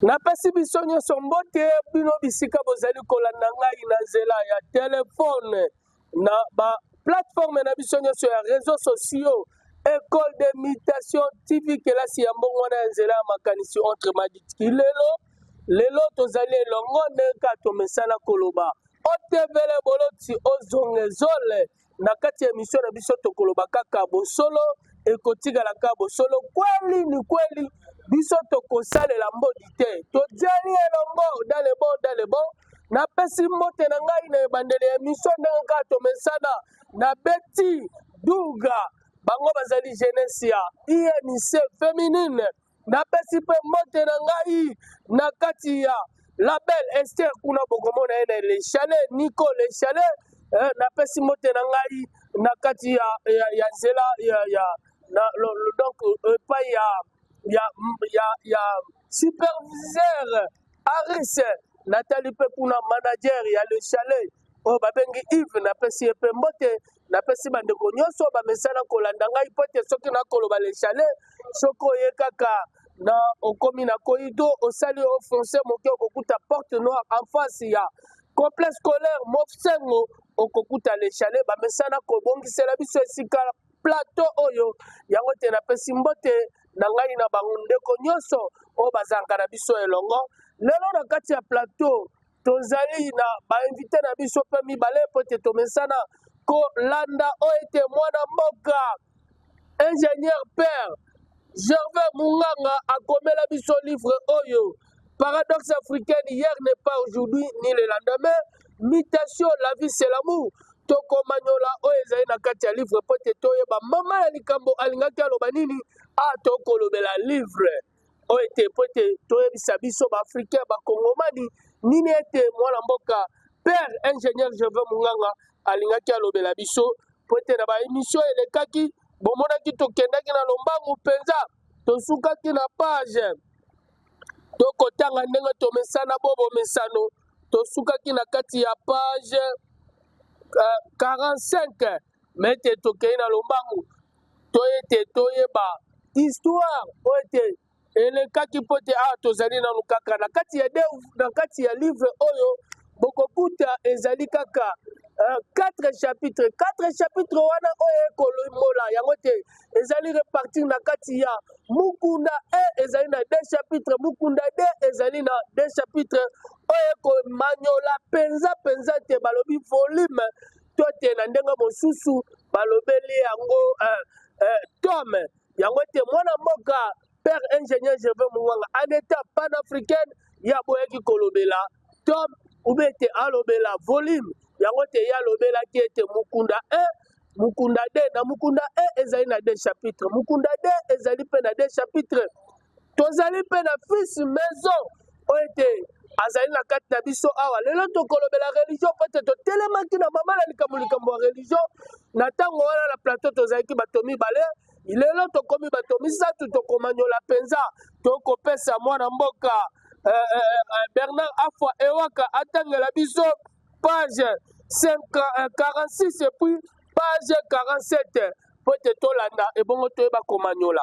Napesi biso nyonso mbote bino bisika bozali kolanda ngai na nzela ya telefone na ba plateforme na biso nyonso ya réseaux sociaux école de mutation tv kelasi ya mbongo wana ya nzela ya makanisi entre maditki lelo lelo tozali elongo ndenge kaka tomesana koloba otevele boloti ozongezole na kati ya emission na biso tokoloba kaka bosolo ekotikala kaka bosolo kweli ni kweli biso tokosalela mbodi te tojali elongo dalebo dalebo napesi mbote na ngai na ebandeli ya emission ndenge kaka tomesana na beti duga bango bazali jeunesse ya inc feminine napesi mpe mbote na ngai na kati ya la belle ester kuna bokomona ye na le chalet nico le chalet eh, napesi mbote na ngai na kati ya, ya, ya nzela ya, ya, na, lo, lo, donc epai ya, ya, ya, ya superviseur aris natali mpe kuna manager ya le chalet oyo babengi ive napesi ye mpe mbote napesi bandeko nyonso bamesana kolanda ngai mpo ete soki nakoloba lechale soki oye kaka na okomi na koido osali ofonse moke okokuta porte noire en face ya complexe scolaire mofsengo okokuta lechale bamesana kobongisela biso esika plateau oyo yango te napesi mbote na ngai na bandeko nyonso oyo bazalaka na biso elongo lelo na kati ya plateau tozali na bainvite na biso mpe mibale mpo ete tomesana kolanda oyo ete mwana mboka ingénieur père gervais munganga akomela biso livre oyo paradoxe africaine hier n'est pas aujourd'hui ni le lendemain mutation la vie c'est l'amour tokomanyola oyo ezali na kati ya livre mpo ete toyeba mama ya likambo alingaki aloba nini a ah, tokolobela livre oyo ete mpo ete toyebisa biso baafricain bakongomani nini ete mwana mboka père ingénieur jeve monganga alingaki alobela biso mpo ete na baemisio elekaki bomonaki tokendaki na lombangu mpenza tosukaki na page tokotanga ndenge tomesana bo bomesano tosukaki na kati ya page uh, eh, 45 me ete tokei na lombangu to ete toyeba histoire po ete elekaki mpo ete awa tozali nanu kaka na kati ya de, na kati ya livre oyo bokokuta ezali kaka uh, quatre chapitre quatre chapitre wana oyo ekolomola yango te ezali repartir na kati ya mukunda e ezali na de chapitre mukunda de ezali na de chapitre oyo ekomanyola mpenza mpenza te balobi volume to te na ndenge mosusu balobeli yango eh, eh, tom yango ete mwana mboka père ingénieur jeve mongwanga en état panafricaine ya boyaki kolobela tom ube ete alobela volume yango te ye alobelaki ete mokunda 1 mokunda 2 na mokunda 1 ezali na 2 chapitre mokunda 2 ezali mpe na 2 chapitre tozali mpe na fils maison oyo ete azali na kati na biso awa lelo tokolobela religion mpo ete totelemaki na mama na likambo likambo ya religion na ntango wana na plateau tozalaki bato mibale lelo tokomi bato misato tokomanyola mpenza tokopesa mwana mboka eh, eh, eh, bernard afwa ewaka atangela biso page 46 epuis page 47 mpo ete tolanda ebongo toyeba komanyola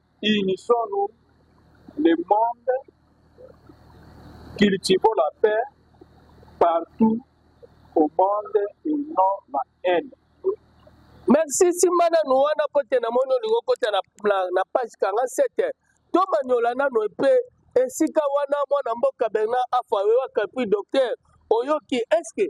Unissons nous le monde cultivons la paix partout au monde et non la haine. Merci simba nanu wana mpo te namoni olingi okota na, na, na page kanga sete tomanyola nanu epe esika wana mwana mboka Bernard Afa oyewaka epuis docteur oyoki eske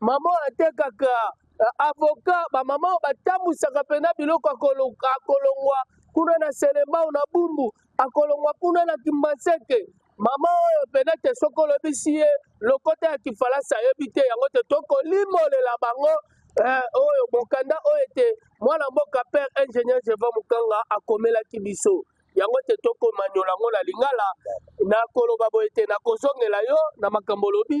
Maman atekaka euh, avocat ba maman batambwisaka pena biloko akolongwa kuna na Selembao na Bumbu akolongwa kuna na Kimbanseke mama oyo pena te soki olobisi ye lokota ya kifalasi ayebi te yango te tokolimolela bango eh, oyo mokanda oyo ete mwana mboka père ingénieur jeva mokanga akomelaki biso yango te tokomanyola yango na lingala nakoloba boye te nakozongela yo na makambo olobi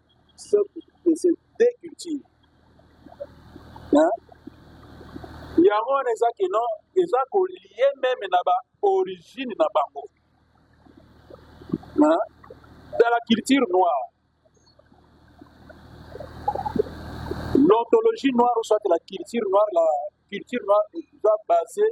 se decultive yango wana eza ke non eza kolie meme na baorigine na bango dans la culture noire l'ontologie noire soit la culture noire la culture noire eza basée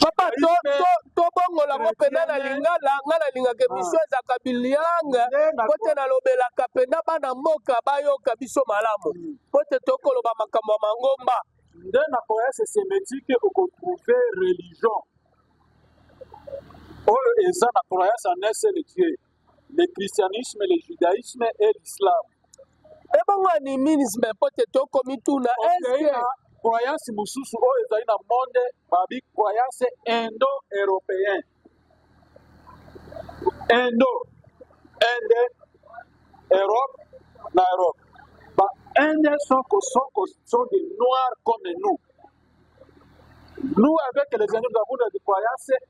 papa to to to bongola ngo pena na lingala nga na lingaka emission ah. ezaka bilianga po te nalobelaka pena bana mboka bayoka biso malamu hmm. po te tokoloba makambo ya mangomba nde na cohérence sémétique okotrouve religion oyo eza na croyance en un seul dieu le christianisme le judaisme et l'islam ebongo animisme mpo te tokomituna eske croyance mosusu oyo ezali na monde babi croyance indo européen indo inde europe na europe ba inde soko soko sont des noirs comme nous nous avec les indiens nous avons des croyances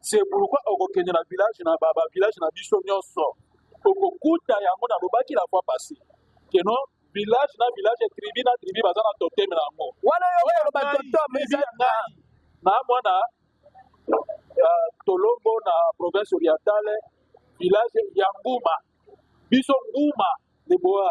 C'est pourquoi okokende na village na ba, ba village na biso nyonso okokuta yango nalobaki la fois passé que non village na village tribu na tribu baza na totem na yango wana yo oloba totem eza ngai na mwana uh, tolombo na province orientale village ya nguma biso nguma leboa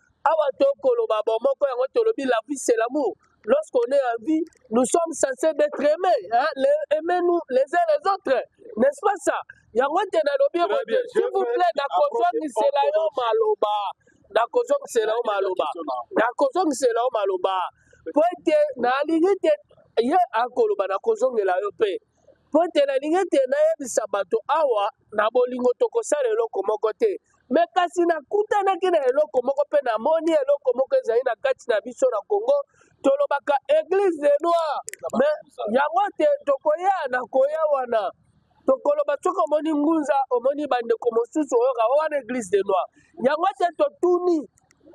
awa tokoloba bomoko yango tolobi la vie c'est l'amour lorsqu'on est en vie nous sommes censés d'être aimés hein? les, aimez nous les uns les autres n'est-ce pas ça yango te nalobi boye s'il vous plaît nakozongisela yo maloba nakozongisela yo maloba nakozongisela yo maloba mpo ete nalingi te ye akoloba nakozongela yo mpe mpo ete nalingi ete nayebisa bato awa na bolingo tokosala eloko moko te me kasi nakutanaki na eloko moko mpe namoni eloko moko ezali na kati na biso na congo tolobaka eglise de noir me yango te tokoya na koya wana tokoloba soki omoni ngunza omoni bandeko mosusu oyoka oh, wana eglise de noir yango te totuni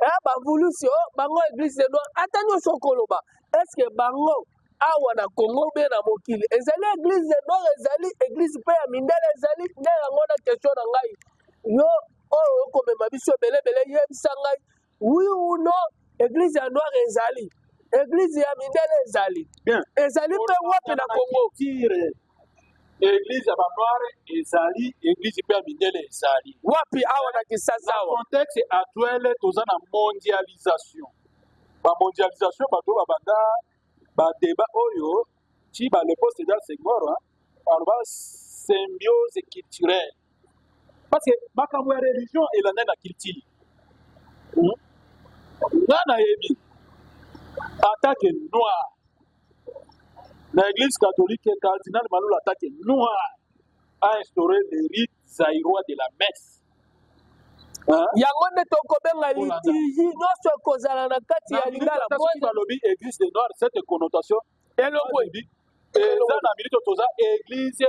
eh, bavulusi o oh, bango eglise de noir ata nyonso okoloba eske bango awa na congo be na mokili ezali eglise de nord ezali eglise mpe ya mindele ezali nde yango na question na ngai yo oyo okomema biso ebelebele yebisa ngai oui ou non eglise ya noire ezali eglise ya mindele ezali ezali mpe wapi na congo Eglise ya banware ezali, eglise mpe ya mindele ezali. Wapi awa na Kinshasa awa? Na contexte actuel toza na mondialisation. Ba mondialisation bato babanda ba débat oyo ti ba le poste da Senghor aloba symbiose culturelle. Parce que makambo ya religion elanda na culture. Hmm? Nga nayebi en tant que noir na église catholique cardinal malula atake noir a instauré le rite zairois de la messe yango nde tokobenga litigi nyonso ekozala na kati ya lingala balobi église de noir cette connotation eloko eza na milito toza église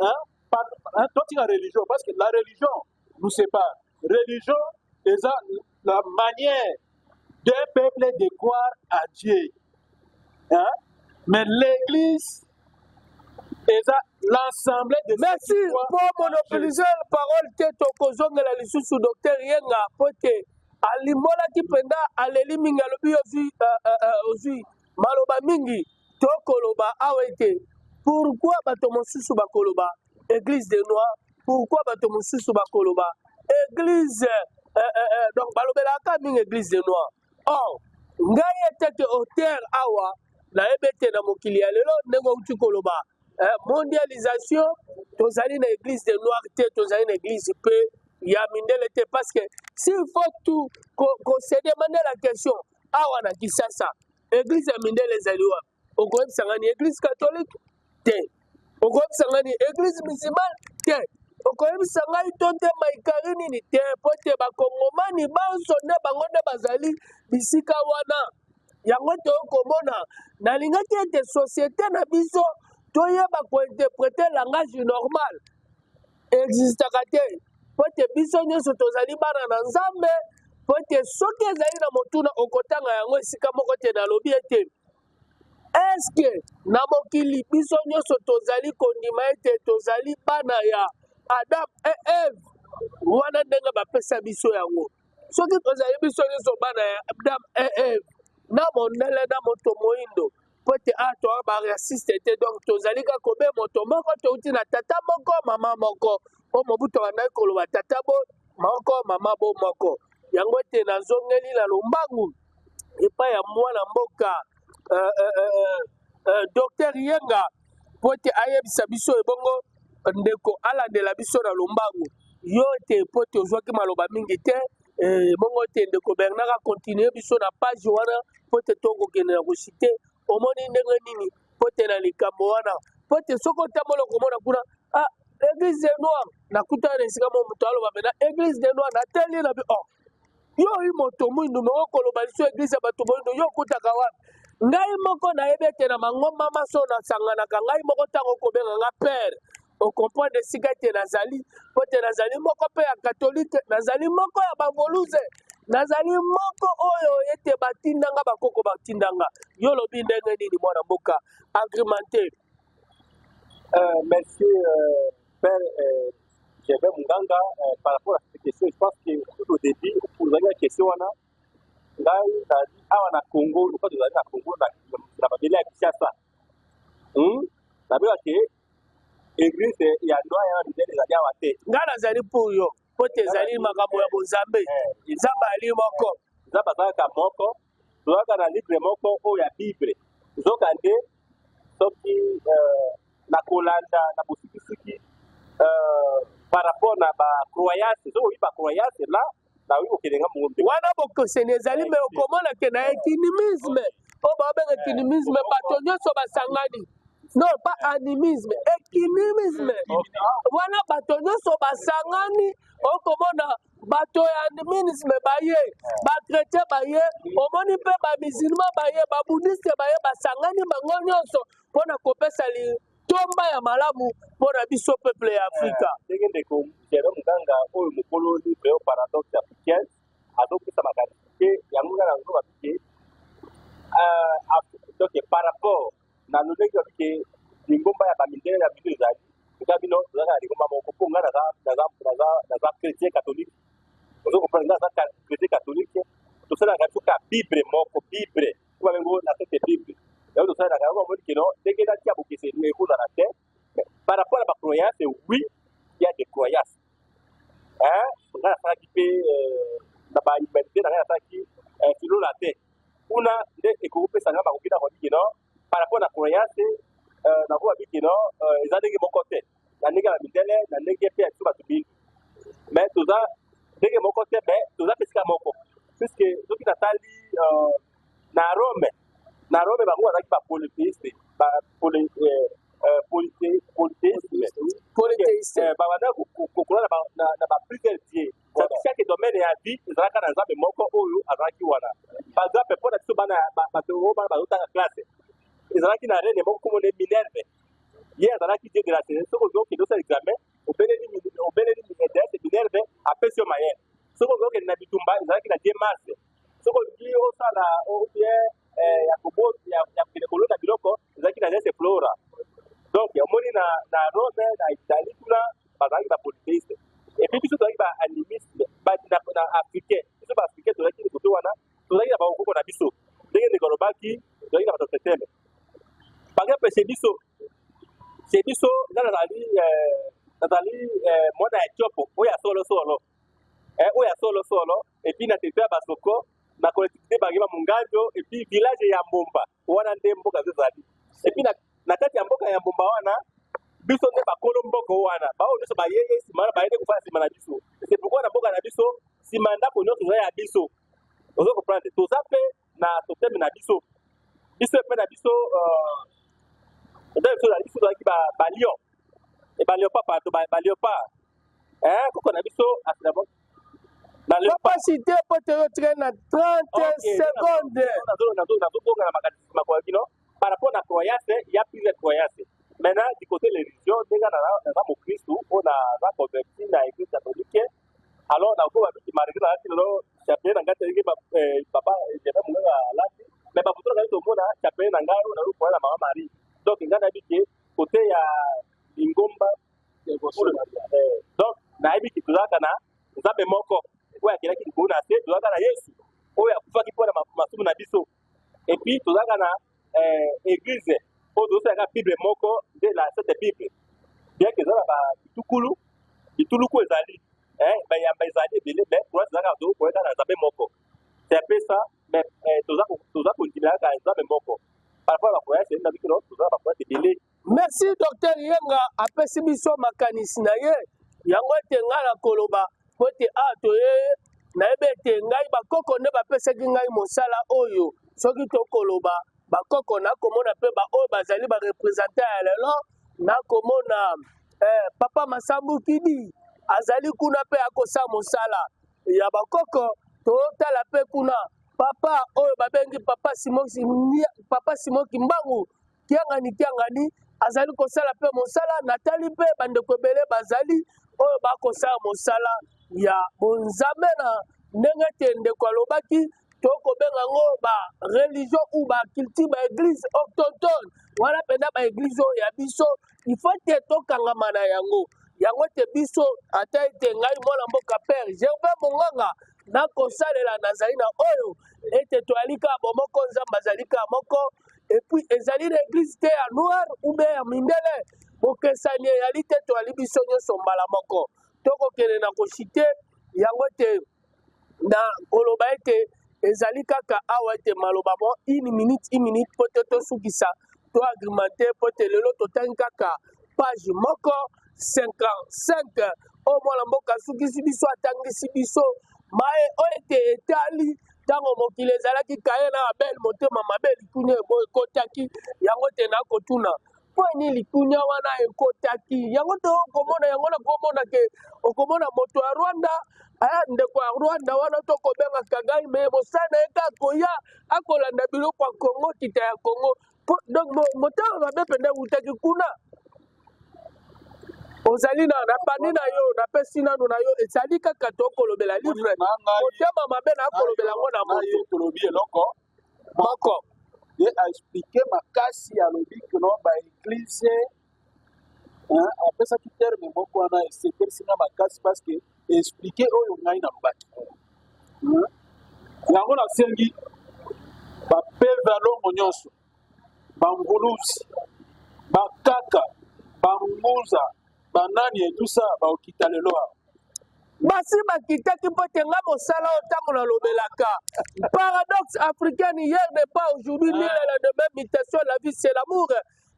hein par, hein, totika religion parce que la religion nous sépare religion eza la manière d'un peuple de croire à Dieu hein mais l'église eza l'ensemble de merci po monopolise parole te tokozongela lisusu docteur yenga po te alimbolaki mpenza aleli mingi alobi ozwi euh, euh, euh, Maloba mingi tokoloba awa ete pourquoi bato mosusu bakoloba église de noir pourquoi bato mosusu bakoloba église euh, euh, euh, donc balobelaka mingi église de noir or ngai etete auteur awa nayebi ete na mokili ya lelo ndenge outi koloba eh, mondialisation tozali na église de noir te tozali na église mpe ya mindele te parce que s'il faut tout kosede ko mande la question awa na kisasa eglise ya mindele ezali wapi okoyebisa ngani eglise katolike te okoyebisa ngani eglise musimane te okoyebisa ngai to te maikari nini te mpo te bakongomani banso nde bango nde bazali bisika wana yango toyei komona nalingaki ete societe na biso toyeba kointerprete langage normal existaka te mpo ete biso nyonso tozali bana na nzambe mpo ete soki ezali na motuna okotanga yango esika moko te nalobi ete eske na mokili biso nyonso tozali kondima ete tozali bana ya adam e eve wana ndenge bapesa biso yango soki tozali biso nyonso bana ya adam e eve na mondele na moto moindo mpo ete awa toa baraciste te donc tozali kaka kobe moto moko touti na tata moko mama moko mpo mobutu abandaki koloba tata bo moko mama bo moko yango ete nazongeli na lombangu epai ya mwana mboka uh, uh, uh, uh, uh, docteur yenga mpo ete ayebisa biso ebongo ndeko alandela biso na lombangu yo te mpo te ozwaki maloba mingi te Eh, bongo te ndeko bernard akontinue biso na page wana mpo te tokokende na kosite omoni ndenge nini mpo te na likambo wana mpo te soki otambola okomona kuna ah, église de noir nakutana na esika mo moto aloba mena église de noir natali na bi oh, yo oyi moto mwindu me okoloba liso église ya bato moyindo yo okutaka wapi ngai moko nayebi ete na mangomba maso nasanganaka ngai moko ntango okobenga nga pere okomprendre esika ete nazali mpo ete nazali moko mpe ya katolike nazali moko ya bavoluze nazali moko oyo ete batindanga bakoko batindanga yo olobi ndenge nini mwana mboka agrimente euh, merci euh, père euh, jeve munganga euh, par rapport à cette question je pense que tout au début ozali na question wana ngai nazali awa na congo lokola tozali na congo na mabele ya kinshasa hmm? nabelake eglise ya loi ya bibele ezali awa te ngai nazali pour yo mpo te ezali makambo ya bonzambe eh, nzambe ali moko nzambe azalaka moko tozalaka na libre moko oyo ya bible nzoka nde soki eh, na kolanda na bosikisiki eh, par rapport na bacroyance soki oyi bacroyance la wana bokeseni ezali me okomona ke na ekinimisme oyo baobenga ekinimisme bato nyonso basangani non pas animisme ekinimisme wana bato nyonso basangani okomona bato ya animisme baye bakretien baye omoni mpe bamisilma baye babudiste baye basangani bango nyonso mpo na kopesa li tonba ya malamu mpo na biso peuple ya afrika eh, ndenge ndeko jere muganga oyo mokolo libre yo paradoxe africaine azopesa makanisi te yango nga nazoba bike donc par rapport na lolenge babi ke lingomba ya bamindele ya bino ezali eza bino tozalaka na lingomba moko mpo nga naza chrétien catholique ozo comprendre nga aza chrétien catholique tosalaka biso ka bible moko bible Kuba bengo na tete bible. Yao to sala kaka moni kino ndenge na tia bokese ni ekola na te. Par rapport à ma croyance, oui, il y a des croyances. Hein? On a ça qui peut euh, na ba humanité na ça qui euh, kilo la te. Kuna nde ekopesa nga makoki na kondiki no par rapport na croyance euh, na kuba biki no euh, eza ndenge moko te. na ndenge ya midele na ndenge mpe ya biso bato mingi me toza ndenge moko te me toza mpe esika moko puiske soki natali euh, na rome na rome bango bazalaki bapolythéiste polythéiste babanda kokola na baplusieur die chaque domaine ya vie ezalaka na nzambe moko oyo azalaki wana par exemple mpo na biso bana bato oyo bana bazotanga classe ezalaki na rene moko komone minerve ye azalaki dieu de la saison soki ozo kende osala examen obeleli obeleli deesse minerve apesi yo mayele soki ozo kende na bitumba ezalaki na dieu mars soki olingi osala obie eh, ya koboti ya kokende kolona biloko ezalaki na deesse flora donc omoni na na rome na italie kuna bazalaki ba polythéiste epuis biso tozalaki ba animiste na africain biso ba africain tozalaki likoto wana tozalaki na bakokoko na biso ndenge ndeko alobaki toyaki na bato septembre bange mpe se biso se biso nga nazali eh, nazali eh, mwana ya tiopo oyo ya solo solo eh, oyo ya solo solo epuis na territoire ya basoko na collectivité bange ba monganjo epuis village ya mbomba wana nde mboka ezali epuis na kati ya mboka ya mbomba wana biso nde bakolo mboko wana baoyo nyonso bayeye nsima wana bayende kofala nsima na biso se pourkoi na mboka na biso nsima ndako nyonso eza ya biso ozo comprendre toza mpe na toteme na biso biso epai na biso euh, epai biso na biso tozalaki balion e balion pa pato balion pa eh, koko na biso asilabo capacité mpo toyotika na 30 seconde nazobonga na makanisi makola kino par rapport na croyance ya pire croyance maintenant du côté religion ndenge naza mokristu oyo naza converti na église catholique alors na ko babi marqué na lati lelo chapeau na ngati ndenge eh, papa jebe munganga alati mais bafoto na ngai tomona chapeau na ngai oyo nayo koya na mama marie donc ngai nayebi ke kote ya lingomba eh, donc nayebi ke tozalaka na nzambe moko oyo akelaki likolo na se tozalaka na yesu oyo akufaki mpo na masumu na biso epuis tozalaka na euh, église po tozosala kaka bible moko nde la sete bible bien que eza na babitukulu bituluku ezali eh, bayamba ezali ebele mais croise eza kaka tokokoya kaka na nzambe moko c'est un peu ça mais eh, toza ko- toza kondimela kaka nzambe moko par rapport ya bakoyasi ezali na bikino toza na bakoyasi ebele merci docteur yenga apesi biso makanisi na ye yango ete ngai na koloba po ete awa ah, toye nayebi ete ngai bakoko nde bapesaki ngai mosala oyo soki tokoloba bakoko nakomona mpe baoyo bazali barepresentant ya lelo nakomona eh, papa masambu kidi azali kuna mpe akosa mosala ya bakoko totala mpe kuna papa oyo babengi papa simo kimbangu Kiangani Kiangani azali kosala mpe mosala natali mpe bandeko ebele bazali oyo bakosala mosala ya bonzambe na ndenge ete ndeko alobaki tokobenga yango ba religion ou ba culture ba eglise octontone wana mpenza ba eglise oyo ya biso ifo te tokangama na yango yango te biso ata ete ngai mwana mboka pere gervin monganga nakosalela nazali na oyo ete toyali kaka bomoko nzambe azali kaka moko et puis ezali na eglise te ya noir ou bien ya mindele bokesani eyali te toyali biso nyonso mbala moko tokokende na koshite yango ete na koloba ete ezali kaka awa ete maloba mo une minute une minute mpo te tosukisa to agrimante mpo ete lelo totangi kaka page moko 55 oyo mwana mboka asukisi biso atangisi biso maye oyo ete etali Ntango mokili ezalaki Kain na Abel, motema mabe, likunya ekotaki. Yango te nakotuna mpo ni likunya wana ekotaki. Yango te okomona yango, nakomona ke okomona moto ya Rwanda aya eh, ndeko ya Rwanda wana tokobenga Kagame, mosala na ye kaka koya akolanda biloko ya Kongo, kita ya Kongo. Po- donc mo- motema mabe mpenza ewutaki kuna ozali na na pani na yo napesi nano na yo ezali kaka tokolobela Omoni, livre na ngai motema mabe na nakolobela yo yango na na moto ye tolobi eloko moko moko ye aexplike makasi alobi kino baeglize hein, apesaki terme moko wana esepelisi nga makasi parce que explike oyo ngai nalobaki hein? yango nasengi bapeve ya longo nyonso banguluzi bakaka banguza banani etusa baokita lelo awa basi bakitaki mpo te nga mosala oyo ntango nalobelaka paradoxe africaine hier de pas aujourd'hui nila la demain mutation la vie c'est l'amour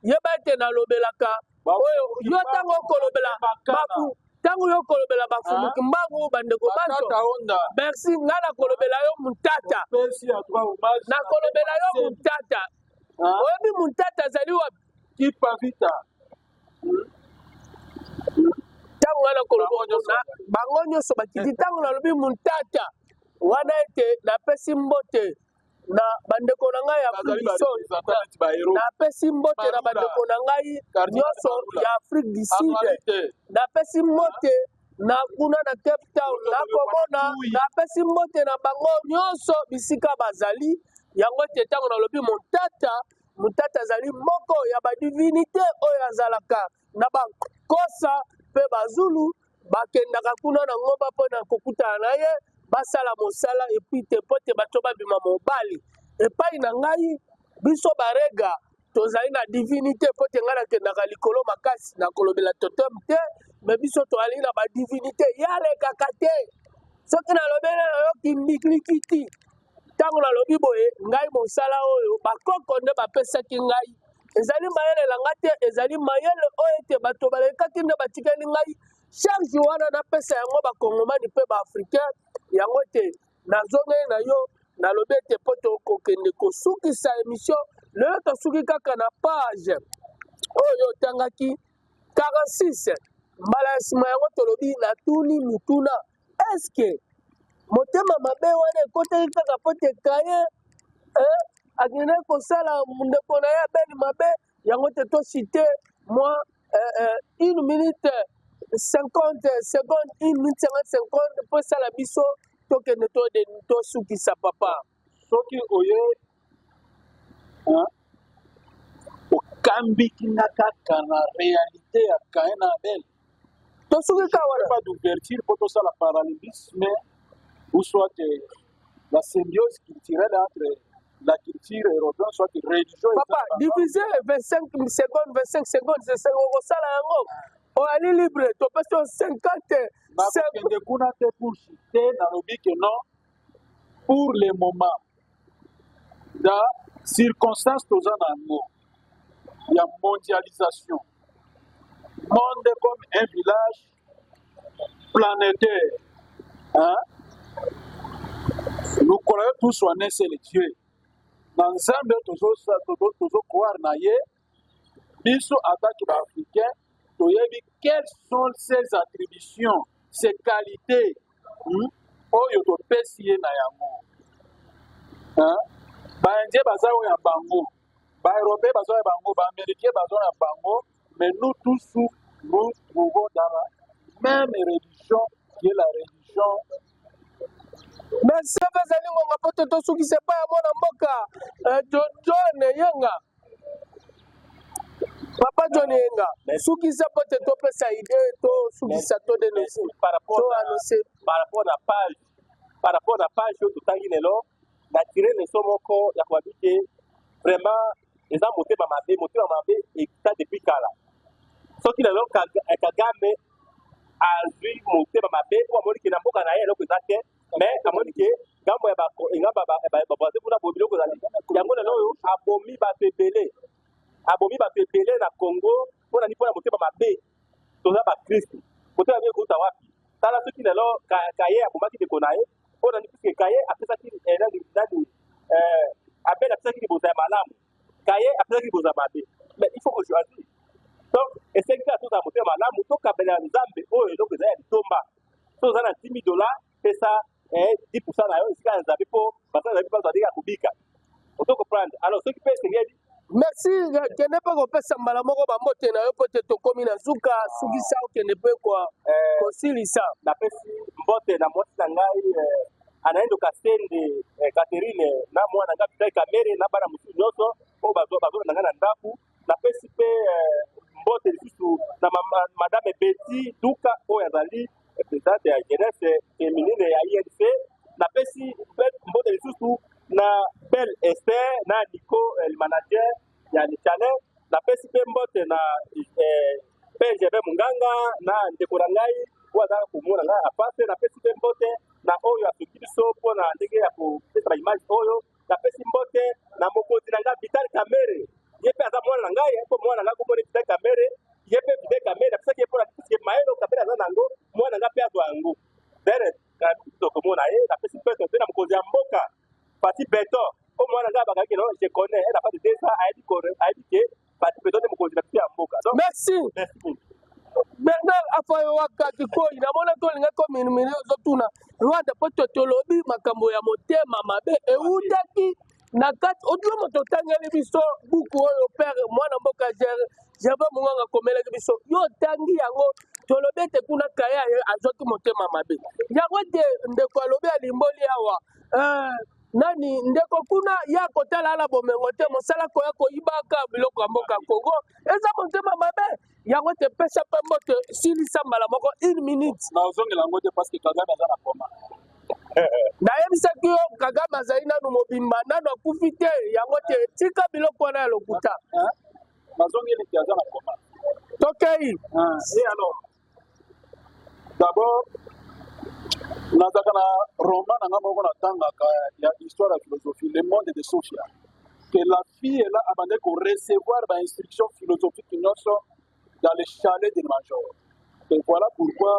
yeba ete nalobelaka oyo yo ntango okolobela ntango yo kolobela bafumu ah. kimbangu bandeko banso merci nga nakolobela yo mutata nakolobela yo mutata ah. oyebi mutata azali wapi kipavita ntango nga nakolobela bango nyonso bakiti ntango nalobi mutata wana ete napesi mbote na bandeko na ngai ya Afrique du Sud, napesi mbote na bandeko na ngai nyonso ya Afrique du Sud, napesi mbote na kuna na Cape Town, nakomona napesi mbote na bango nyonso bisika bazali. Yango ete ntango nalobi montata, montata azali moko ya badivinite oyo azalaka na bakosa mpe bazulu bakendaka kuna na ngomba mpo na kokutana na ye basala mosala epuis te mpo te bato babima mobali epai na ngai biso barega tozali na divinité mpo te ngai nakendaka likolo makasi na kolobela totem te me biso toali na badivinité yalekaka te soki nalobeli nayo kindiklikiti Ntango nalobi boye, ngai mosala oyo bakoko nde bapesaki ngai ezali mayele na ngai te, ezali mayele oyo ete bato balekaki nde batikeli ngai charge wana napesa yango bakongomani mpe baafricain yango ete nazongeli na yo nalobi ete mpo tokokende kosukisa emission lelo tosuki kaka na page oyo otangaki 46 mbala ya nsima yango tolobi natuni motuna eske motema mabe wana ekotaki kaka mpo te kaye eh, akendaki kosala ndeko na ye abeli mabe yango te tosite mwa eh, eh, une minute 50 seconde une minute 50 seconde mpo esala biso tokende tosukisa papa soki oye okambiki nga kaka na réalité ya Cain na Abel to soki kaka wana pas d'ouverture mpo tosala parallélisme ou soit euh, la symbiose culturelle entre la culture européenne soit religion papa divisé 25 secondes 25 secondes esenge okosala yango oyali libre topesi yo 50 kuna te kushi te nalobi ke non pour le moment na circonstance toza na yango ya mondialisation monde comme un village planétaire hein? nous croyons tous en un seul dieu na nzambe tozokware na ye biso atake ba africain toyebi quelles sont ses attributions ses qualités hmm? oyo topesi ye na yango baindien baza oyo ya bango baeuropéen baza ya bango baaméricain baza ya bango mais nous tous nous trouvons dans la même religion qui est la religion merci bazali ngonga mpo te tosukisa epai ya mwana mboka eh, john yenga papa john yenga sukisa mpo te topesa ide to sukisa to denonse to annonce par rapport na page par rapport na page oyo totangi lelo na tire leso moko ya kobabi te vraiment eza motema mabe motema mabe ekita depuis kala soki lelo eh, kagame azwi motema mabe mpo amoni ke na mboka na ye eloko eza te mais amoni ke ngambo ya ngamba baboise kuna bo biloko ezali yango lelo oyo abomi bato ebele abomi bato ebele na congo mpo na nini mpo na motema mabe toza bakristu motema mabe ekouta wapi tala soki lelo kaye abomaki ndeko na ye mpo na nini puiske kaye apesaki eh, nani eh, abele apesaki liboza ya malamu kaye asilaki koza mabe mais il faut ko choisir donc esengi kaka tozala motema malamu tokabelela nzambe oyo eloko eza ya litomba so oza na 10 000 dollars pesa 10 eh, pourcent na yo esika ya nzambe mpo basala nzambe baza ndenge ya kobika ozo comprendre alors soki mpe esengeli merci kende mpe kopesa mbala moko bambote na yo mpo te tokomi na zuka ah. sukisa okende mpe eh, kosilisa napesi mbote na mwasi na ngai eh, anaendo kasende eh, Catherine na mwana nga bitai kamere na bana mosusu nyonso oyo bazolanda nga na ndako napesi mpe eh, mbote lisusu na madame Betty Duka oyo azali eh, presidente ya jeunesse feminine ya INC napesi mpe mbote lisusu na Belle Esther na Nico le manager ya Nicale. Napesi mpe mbote na eh, PGB Munganga na ndeko na ngai oyo azalaka komona ngai apase. Napesi mpe mbote na oyo asoki biso mpo na ndenge ya kopesa ba image oyo. Napesi mbote na mokonzi na ngai Vital Kamerhe, ye mpe aza mwana na ngai, mpo mwana na ngai komoni Vital Kamerhe, ye mpe Vital Kamerhe napesaki ye mpo na puisque mayele Kamerhe aza na yango, mwana na ngai mpe azwa yango. Dere, na komona ye, napesi mpe mpe na mokonzi ya mboka Pati beton o mwana nga bakaki kino je connais elle a pas de deux ans ayebi ko ayebi ke pati beton nde mokonzi na biso ya mboka donc merci Bernard Afayoaka Kikoi na mona to linga ko minimini ozo tuna Rwanda po to tolobi makambo ya motema mabe eutaki na kati odilo moto otangeli biso buku oyo père mwana mboka Gervais Munganga akomelaki biso yo otangi yango tolobi ete kuna kaya azwaki motema mabe yango ete ndeko alobi alimboli awa eh, nani ndeko kuna ya kotala ala bomengo te mosala koya koyibaka biloko ya mboka kongo eza motema mabe yango te pesa mpe mbote silisa mbala moko une minute nazongela yango te parce que kagame aza na koma nayebisaki yo kagame azali nanu mobimba nanu akufi te yango te tika biloko wana ya lokuta nazongeli te aza na koma tokei ah. d'abord nazalaka na roman na ngai moko natangaka ya histoire ya philosophie le monde de sophia que la fille ela abandaki korecevoir bainstruction philosophique nyonso dans le chalet de major et voilà pourquoi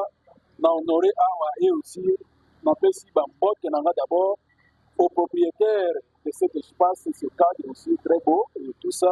na honore awa ye aussi napesi bambote na ngai d'abord au propriétaire de cet espace ce cadre aussi très beau et tout ça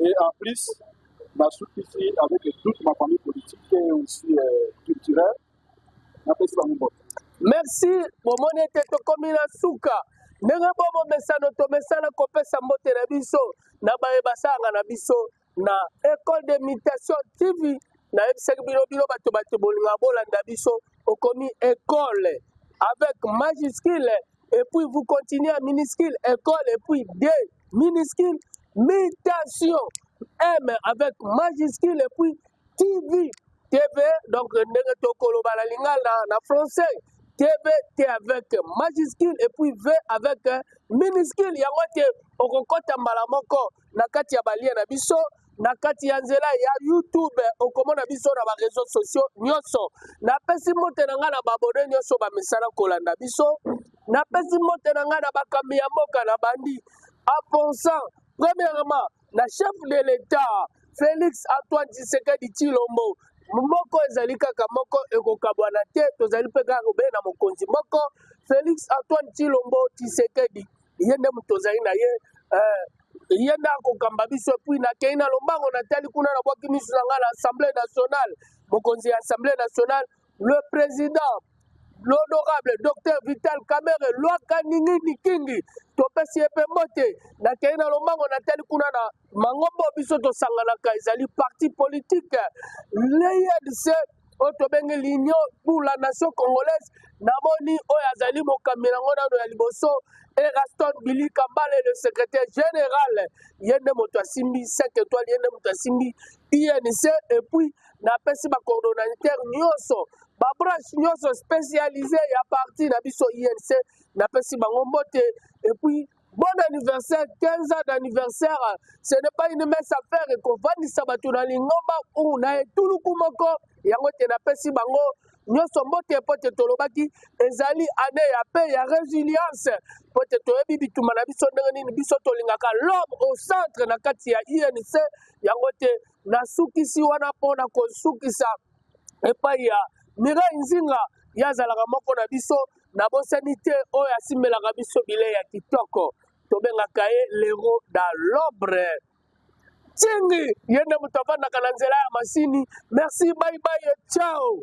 Et en plus, la sous-ici avec toute ma famille politique et aussi euh, culturelle, la paix sur la Merci, bomoni ete tokomi na suka ndenge bo momesano tomesana kopesa mbote na biso na baye basalaka na biso na école de mutation tv nayebisaki bino bino bato bato bolingaka bolanda biso okomi école avec majuscule et puis vous continuez à minuscule école et puis D minuscule mutation M avec majuscule et puis TV TV donc ndenge tokoloba na lingala na français TV T avec majuscule et puis V avec minuscule yango te okokota mbala moko na kati ya balien na biso na kati ya nzela ya youtube okomona biso na bareseau sociaux nyonso napesi mbote na ngai na babone nyonso bamesana kolanda biso napesi mbote na ngai na bakambi ya mboka na bandi en pensant premièrement na chef de l'etat félix antoine tshisekedi tshilombo moko ezali kaka moko ekokabwana te tozali mpe kaka kobele na mokonzi moko félix antoine tshilombo tshisekedi ye nde moto ozali na ye eh, ye nde akokamba biso epuis nakei na lombango natali kuna nabwaki miso na ngai na assemblée nationale mokonzi ya assemblée nationale le président l'honorable docteur vital kamere lwaka ningi nikingi topesi ye mpe mbote nakei na lombango natali kuna na mangomba oyo biso tosanganaka ezali parti politike ledc oyo tobengi l'union pour la nation congolaise namoni oyo azali mokambi yango nano ya liboso eraston bilika mbale le secrétaire général ye nde moto asimbi 5 étoile ye nde moto asimbi inc epuis napesi bacoordonnateur nyonso babranche nyonso spécialise ya parti na biso inc napesi bango mbote epuis Bon anniversaire, 15 ans d'anniversaire, ce n'est pas une messe à faire et qu'on va nisabatu na lingomba ou na etuluku moko, yango te na pesi bango, nyonso mbote mpo te tolobaki ezali ane ya pe ya resilience mpo te toyebi bituma na biso ndenge nini biso tolingaka l'homme au centre na kati ya inc yango te nasukisi wana mpo na kosukisa epai ya Mireille Nzinga ye azalaka moko na biso na bosani te oyo asimbelaka biso bilei ya kitoko tobengaka ye lero da lobre cingi ye nde moto afandaka na nzela ya masini merci baibai ciao